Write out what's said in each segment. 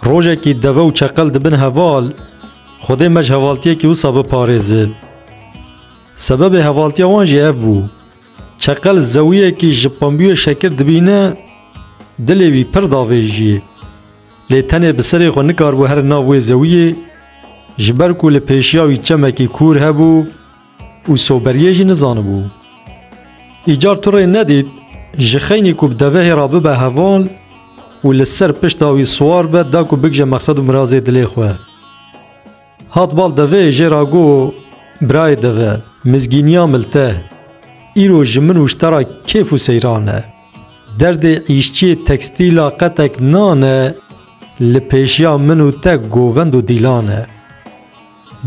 Rojekî deve û çeqel dibin heval, Xwedê me ji hevaltiyekî wisa biparêze. Sebebê hevaltiya wan jî ev bû. Çeqel zewiyekî ji pembûyê şekir dibîne, dilê wî pir davêjiyê. Lê tenê bi serê xwe nikaribû here nav wê zewiyê, ji ber ku li pêşiya wî çemekî kûr hebû, Û soberiyê jî nizanibû. Îcar tu rê nedît ji xeynî ku bi devehê re bibe heval û li ser pişta wî siwar be da ku bigije mexsed û mirazê dilê xwe. Hat bal deveyê jê re got, Birayê deve, mizgîniya milte, îro ji min wiştera kêf û seyran e. Derdê îşçiyê tekstîla qetek nan e, li pêşiya min û te govend û dîlan e.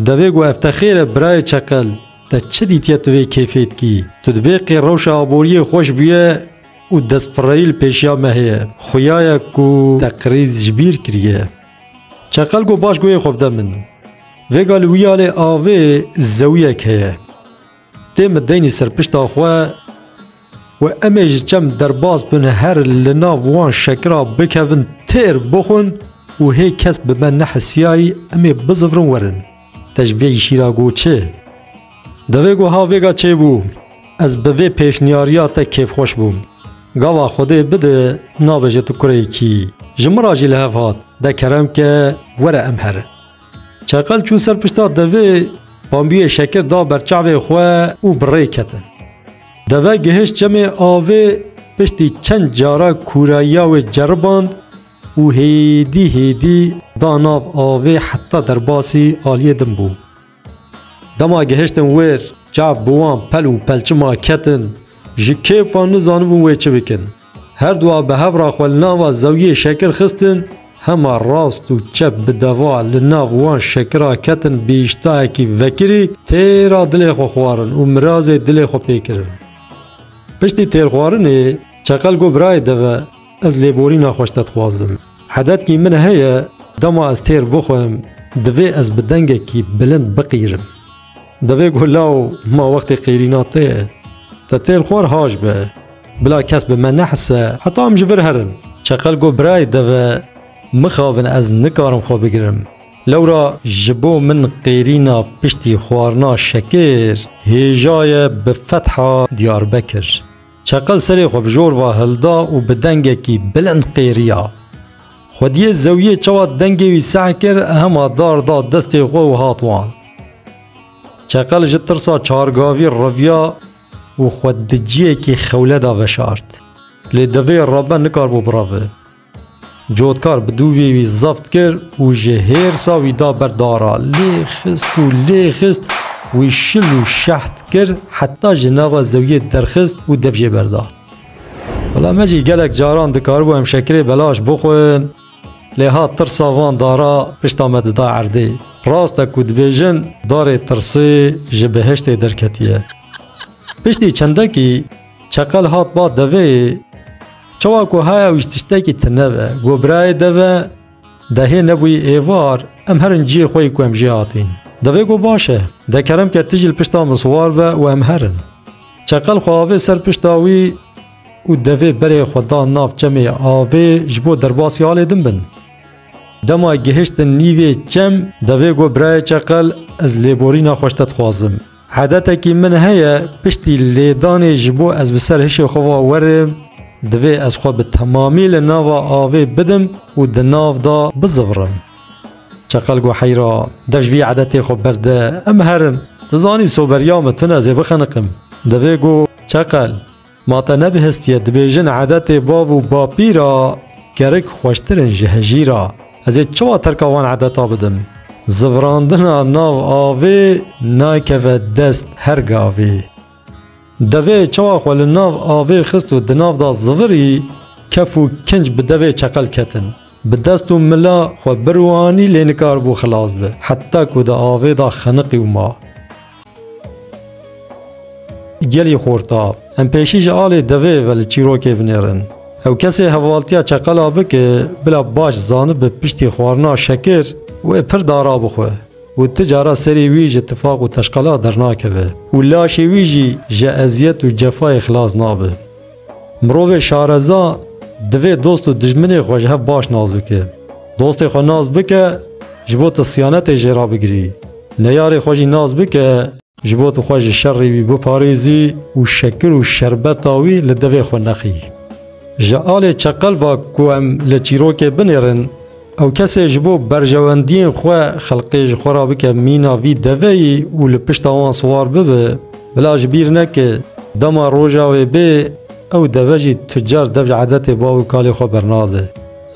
Divê ku ev te xêr e birayê çeqel, te çi dîtiye tu vê kêfê dikî? Tu dibê qê rewşa aboriyê xweş bûye û destfireyî li pêşiya me heye. Xuya ye ku te krîz ji bîr kiriye. Çeqel got baş goyê xwe bide min. Vêga li wîyalê avê zewiyek heye. Tê min deynî ser pişta xwe û em ê ji çem derbas bin her li nav wan şekira bikevin têr bixwin û hê kes bi me nehisiyayî em ê bizivrin werin. Te ji vê îşî re got çi? Divê goha vêga çêbû ez bi vê pêşniyariya te kêfxweş bûm. Gava Xwedê bide nabêje tu kurê kî. Ji min re jî li hev hat de kerem ke were em herin. Çeqel çû ser pişta devê, pambiyê şekir da ber çavê xwe û bi rê ketin. Deve gihişt çemê avê, piştî çend cara kûrayiya wê ceriband û hêdî hêdî da nav avê heta derbasî aliyê din bû. Dema gihiştin wir, çav bi wan pel û pelçima ketin, ji kêfa nizanin wê çi bikin. Her du a bi hev re xwe li nava zewiyê şekir xistin, hema rast û çep bi deva li nav wan şekira ketin bi îştahekî vekirî têra dilê xwe xwarin û mirazê dilê xwe pê kirin. Piştî têrxwarinê Çeqel got birayê deve ez lêborîna xwe ji te dixwazim. Edetkî min heye dema ez têr bixwim divê ez bi dengekî bilind biqîrim. Divê ku law ma wextê qêrîna te ye. Te têr xwar haş be. Bila kes bi me nehise heta em ji vir herin. Çeqel got birayê deve mixabin ez nikarim xwe bigirim. Lewra ji bo min qêrîna piştî xwarina şekir hêjaye bi fetha Diyarbekir. Çeqel serê xwe bi jor ve hilda û bi dengekî bilind qêriya. Xwediyê zewiyê çawa dengê wî seh kir, hema dar da destê xwe û hat wan. Çeqel ji tirsa çargavî riviya û xwe di ciyekî xewle de veşart. Lê devê rebe nikarbû biravi. Cotkar bi dûvê wî zeft kir û ji hêrsa wî da ber dara. Lê xist û lê xist wî şil û şeht kir heta ji nava zewiyê derxist û dev jê berda. Wela me jî gelek caran dikaribû em şekirê belaş bixwin lê ha tirsa van dara pişta me dida erdê. Rast e ku dibêjin darê tirsê ji behiştê derketiye. Piştî çendekî Çeqel hat ba devê Çawa ku haya wî tiştekî ti nebe Go birayê deve Dehê nebûyî êvar Em her in ciyê xwe yî ku em jê hatîn Devê go baş e De kerem ke ti jî li pişta min siwar be û em her in Çeqel xwe avê ser pişta wî û devê berê xwe da nav çemê avê ji bo derbasî alê din bin Dema gihiştin nîvê çem devê go birayê çeqel ez lêborîna xweş te dixwazim Edetekî min heye piştî lêdanê ji bo ez bi ser hişê xwe ve werim, divê ez xwe bi temamî li nava avê bidim û di nav de bizivrim. Çeqel got heyra, dev ji vî edetê xwe berde, em herin. Tu zanî soberiya me tune ez ê bixeniqim. Devê got, Çeqel, Ma te nebihistiye dibêjin edetê bav û bapî ra kerik xweştir in ji hejî ra. Ez ê çiwa terka wan edeta bidim? Zivrandina nav avê nakeve dest her gavê. Devê çawa xwe li nav avê xist û di nav da zivirî, kef û kinc bi devê çeqel ketin. Bi dest û mila xwe bir û anî lê nikaribû xilas be, heta ku di avê da xeniqî û ma. Gelî xorta. Em pêşî ji alê devê ve li çîrokê vinêrin. Ew kesê hevaltiya çeqela bike bila baş zanibe piştî xwarina şekir wê pir dara bixwe û ti cara serî wî ji tifaq û teşqela dernakeve û laşê wî jî ji eziyet û cefayê xilas nabe. Mirovê şareza divê dost û dijminê xwe ji hev baş nas bike. Dostê xwe nas bike, ji bo tu siyanetê jê re bigirî. Neyarê xwe jî nas bike, ji bo tu xwe ji şerê wî biparêzî û şekir û şerbeta wî li devê xwe nexî. Ji alê çeqelva ku em li çîrokê binêrin, Ew kesê ji bo berjewendiyên xwe xelkê ji xwe re bike mîna vî deveyî û li pişta wan siwar bibe, bila ji bîr neke dema roja wê bê ew deve jî tucar dev ji edetê bav û kalê xwe bernade.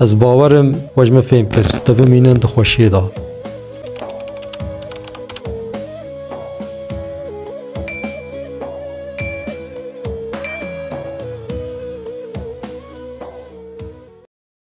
Ez bawer im we ji min fêm kir te bimînin di xweşiyê de.